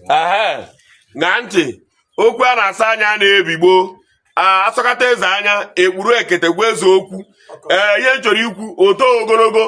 ṅaa ntị okwu a na-asọ anya na-ebi gboo a sọkata eze anya e kpuru ekete gwa eze okwu ee ihe m chọrọ ikwu o to ogologo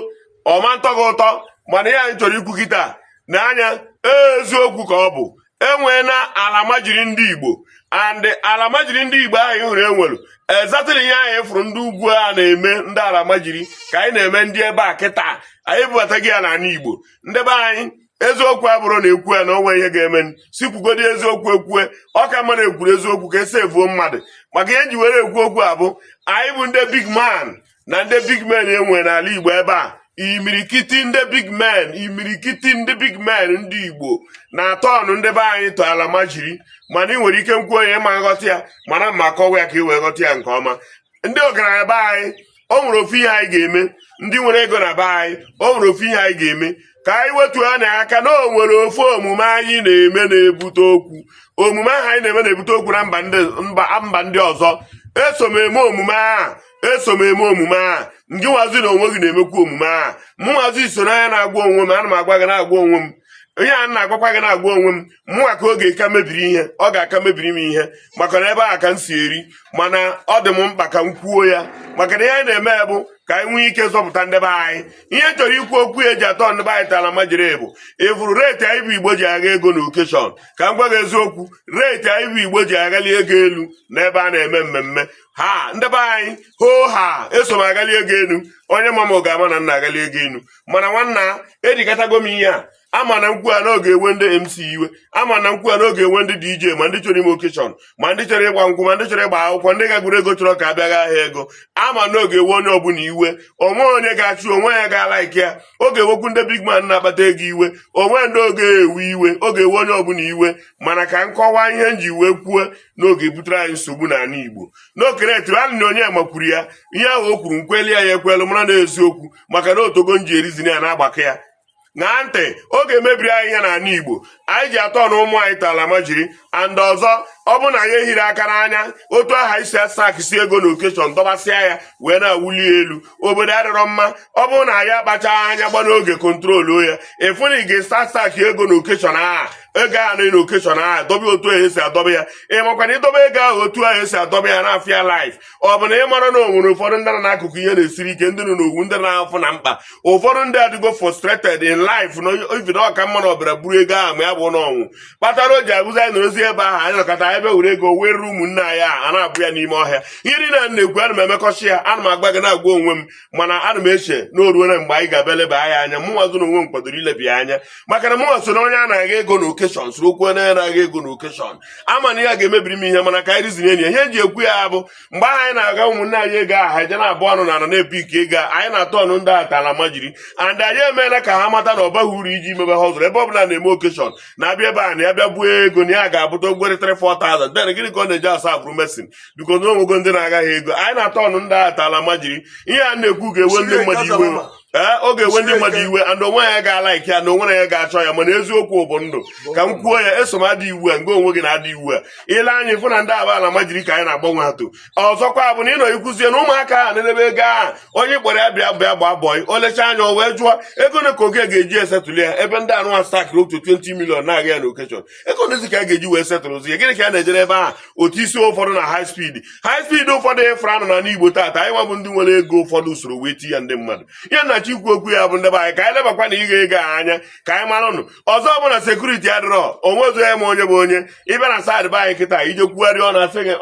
ọ ma ntọ gị ụtọ mana ihe anyị chọrọ ikwu kịta na anya eziokwu ka ọ bụ e nwee na alamajiri ndị igbo and alamajiri ndị igbo ahụ ị hụrụ e nwere exactly ihe anyị fụrụ ndị ugwu a na-eme ndị alamajiri ka anyị na-eme ndị ebe a kịta anyị ebubatago ya n'ala igbo ndị be anyị eziokwu ọ bụrụ na e kwu ya na o nwe ihe ga-eme si kwugodi eziokwu ekwue ọ ka mma na e kwuru eziokwu ka esi evuo mmadụ maka ihe m ji were ekwu okwu a bụ anyị bụ ndị big man na ndị big men e nwe n'ala Igbo ebe a imirikiti ndị big men imirikiti ndị big men ndị Igbo na-aturn ndị be anyị to alamajiri mana ị nwere ike nkwu onye ma nghọta ya mana m ga-akọwa ya ka ị wee ghọta ya nke ọma ndị ọgaranya be anyị o nwere ofu ihe anyị ga-eme ndị nwere ego na be anyị o nwere ofu ihe anyị ga-eme ka anyị wetu ya na aka na o nwere ofu omume anyị na-eme na-ebute okwu omume ahụ anyị na-eme na-ebute okwu na mba ndị ọzọ eso m eme omume a eso m eme omume a ngị nwazi na onwe gị na-emekwa omume a mụ nwazi so na ya na-agwa onwe m ana m agwa gị na-agwa onwe m ihe a na-agwakwa gị na-agwa onwe m mụnwa ka ọ ga-aka mebiri ihe ọ ga-aka mebiri m ihe maka na ebe a ka m si eri mana ọ dị m mkpa ka m kwuo ya maka na ihe anyị na-eme bụ ka anyị nwee ike zọpụta ndị be anyị ihe chọrọ ikwu okwu e ji aturn ndị be anyị to alamajiri bụ ị fụrụ rate anyị bụ igbo ji agha ego na occasion ka m gwa gị eziokwu rate anyị bụ igbo ji aghali ego elu n'ebe a na-eme mmemme ha ndị be anyị hoo ha eso m aghali ego elu onye ma m ga-ama na m na-aghali ego elu mana nwanna edikatago m ihe a ama na nkwu a na ọ ga-ewe ndị MC iwe ama na nkwu a na ọ ga-ewe ndị DJ ma ndị chọrọ ime occasion ma ndị chọrọ ịgba nkwụ ma ndị chọrọ ịgba akwụkwọ ndị ghagoro ego chọrọ ka a bịa ghaa ha ego ama na ọ ga-ewe onye ọbụla iwe o nwe onye ga-achọ onwe ya ga-alike ya ọ ga-ewekwu ndị big man na-akpata ego iwe o nwe ndị ọ ga-ewe iwe ọ ga-ewe onye ọbụla iwe mana ka m kọwa ihe m ji wee kwuo na ọ ga-ebutere anyị nsogbu n'ala Igbo n'okeretiri alị na onye makwuru ya ihe ahụ o kwuru nkweli ya ya ekwelu mara na eziokwu maka na o tego m ji ereason ya na-agbakọ ya ṅaa ntị ọ ga-emebiri anyị ihe n'ala igbo anyị ji aturn ụmụ anyị to alamajiri and ọzọ ọ bụrụ na anyị ehiri aka n'anya otu ahụ e si astacksị ego na occasion dọbasịa ya wee na-awụli elu obodo adịrọ mma ọ bụrụ na anyị akpacha anya gba n'oge control ya ị fụ na ị ga-astack astack ego na occasion ahụ ego a na occasion ahụ dobe otu ahụ esi adọba ya ị makwa na ịdọba ego ahụ otu ahụ esi adọba ya na-afịa life ọ bụ na ị marọ na o nwere ụfọdụ ndị nọ n'akụkụ ihe na-esiri ike ndị nọ n'owu ndị nọ n'afụfụ na mkpa ụfọdụ ndị adịgo frustrated in life na ibi na ọ ka mma na ọ bịara buru ego ahụ ma ya bụ n'ọnwụ kpatara o ji abụzi anyị nọrọzi ebe ahụ anyị nọkata anyị bịa were ego were ụmụnne anyị a na-abụ ya n'ime ọhịa ihe niile a na-ekwu ana m emekọcha ya ana m agwa gị na-agwa onwe m mana ana m eche na o ruole mgbe anyị ga-abịa leba anya anya mụnwa gị na onwe m kwadoro ileba ya anya maka na mụnwa so na onye a na-agha ego na okeshọn soro okwu onye na-agha ego na okeshọn ama m na ya ga-emebiri m ihe mana ka anyị rizinye enyi ihe eji ekwu ya bụ mgbe ahụ anyị na-agha ụmụnne anyị ego aha eje na-abụ ọnụ na ana na-epik ego anyị na-atọọnụ ndị a to almajiri and anyị emeela ka ha mata na ọ baghị uru iji mebe ha ọzụrụ ebe ọ bụla a na-eme okeshọn na-abịa ebe a na ya bịa buo ego na ya ga-abụta ogwere 3 4000 den gịnị ka ọ na-eji asa abụrụ mason biko na o nwego ndị na-agha gị ego anyị na-atọọnụ ndị a to almajiri ihe a na-ekwu ga-ewe ndị mmadụ iwe ee ọ ga-ewe ndị mmadụ iwe and onwe ya ga-alaịkị ya na onwe ya ga-achọ ya mana eziokwu bụ ndụ ka m kwuo ya eso m ada iwu a nke onwe gị na-ada iwu a i lee anya ị fụ na ndị a bụ almajiri ka anyị na-agbanwe ha to ọzọkwa bụ na ịnọ ikwuzie na ụmụaka ahụ na-edebe ego ahụ onye kpọrọ ya bịa bịa gbaa bọị o lechaa anya o wee jụọ ego one ka ọga ga-eji esetụlụ ya ebe ndị a na-astakịrị otu 20 million na-agha ya na okeshọn ego onezi ka a ga-eji wee setụlụzie ya gịnị ka a na-ejere ebe ahụ otu isi ụfọdụ na high speed high speed ụfọdụ ị fụrụ a nọ n'ana igbo taata anyị nwabụ ndị nwere ego ụfọdụ usoro wee ti ya ndị mmadụ ya na chi ikwu okwu ya bụ ndị be anyị ka anyị lebakwanụ ịgha ego a anya ka anyị maranụ ọzọ bụ na sekuriti adịrọ o nwezọ onye ma onye bụ onye ị bịa na saịdị be anyị kịta ije kwugharị ọ na-asị gị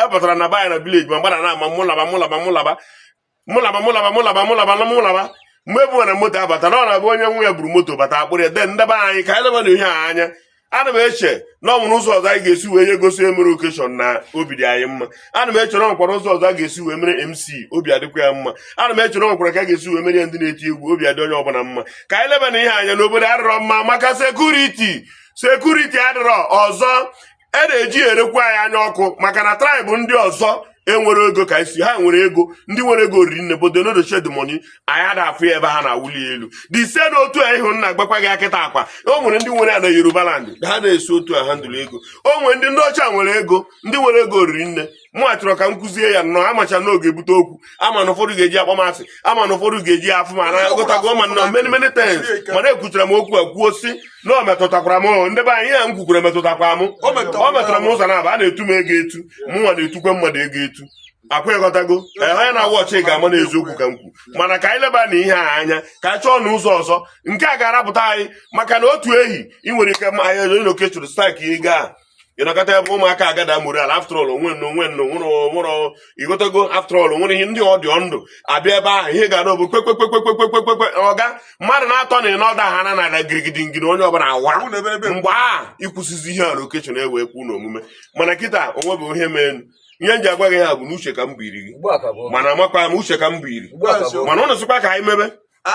epụtara na be anyị na vileji ma gbara na ama mụ laba mụ laba mụ laba mụ laba mụ laba mụ laba mụ laba na mụ laba mgbe ebu na moto abata na ọ na-abụ onye nwe ya buru moto bata a kpụrụ ya den ndị be anyị ka anyị leba na ihe a anya ana m eche na o nwere ụzọ ọzọ anyị ga-esi wee na-egosi onye mere okeshọn na obi dị anyị mma ana m eche na o nwekwara ụzọ ọzọ a ga-esi wee mere mc obi adịkwa ya mma ana m eche na o nwekwara ka a ga-esi wee mere ya ndị na-eti egwu obi adị onye ọbụla mma ka anyị leba na ihe a anya na obodo adịrọ mma maka sekuriti sekuriti adịrọ ọzọ e na-eji elekwu anyị anya ọkụ maka na traịbụ ndị ọzọ enwere ego ka isi ha nwere ego ndị nwere ego riri nne but do not show the money anyị ada afụ ya ebe ha na-awụli ya elu dị ise na otu a ihe m na-agwakwa gị kịta akwa o nwere ndị nwere ya na yoruba land ha na-esi otu a ahandụlụ ego o nwere ndị ndị ọcha nwere ego ndị nwere ego riri nne mụ achọrọ ka m kwuzie ya nnọọ amacha m na ọ ga-ebute okwu ama m na ụfọdụ ga-eji akpọ m asị ama m na ụfọdụ ga-eji afụ m n'anya ịghọtago ma na many many times mana ekwuchara m okwu a kwuo si na ọ metụtakwara m ndị be anyị ihe a m kwukwara metụtakwa m ọ metụtara m ụzọ naabọ a na-etu m ego etu mụnwa na-etukwa mmadụ ego etu akwa ịghọtago onye na-awa ọchị ga-ama na eziokwu ka m kwu mana ka anyị leba na ihe a anya ka anyị chọọnụ ụzọ ọzọ nke a ga-arapụta anyị maka na otu ehi ị nwere ike ma anyị onye okeshọn stakị ego a ị nọkata ebe ụmụaka agada mụrụ ala after all onwe nna onwe nna nwụrụ nwụrụ ịghọtago after all nwere ihe ndị ọdịọ ndụ abịa ebe ahụ ihe ga-ada ọ bụ kpekpekpekpekpekpekpekpe ọ gaa mmadụ na-atọ na anọ adaa n'ana adaa girigidi ngiri onye ọbụla awa mgbe a ịkwụsịzi ihe a na okeshọn na-ewe kwu na omume mana kịta onwe bụ ihe mee ihe m ji agwa gị ya bụ na uche ka m bụ iri gị mana amakwa m uche ka m bụ iri mana ụnụ sịkwa ka anyị mebe ah,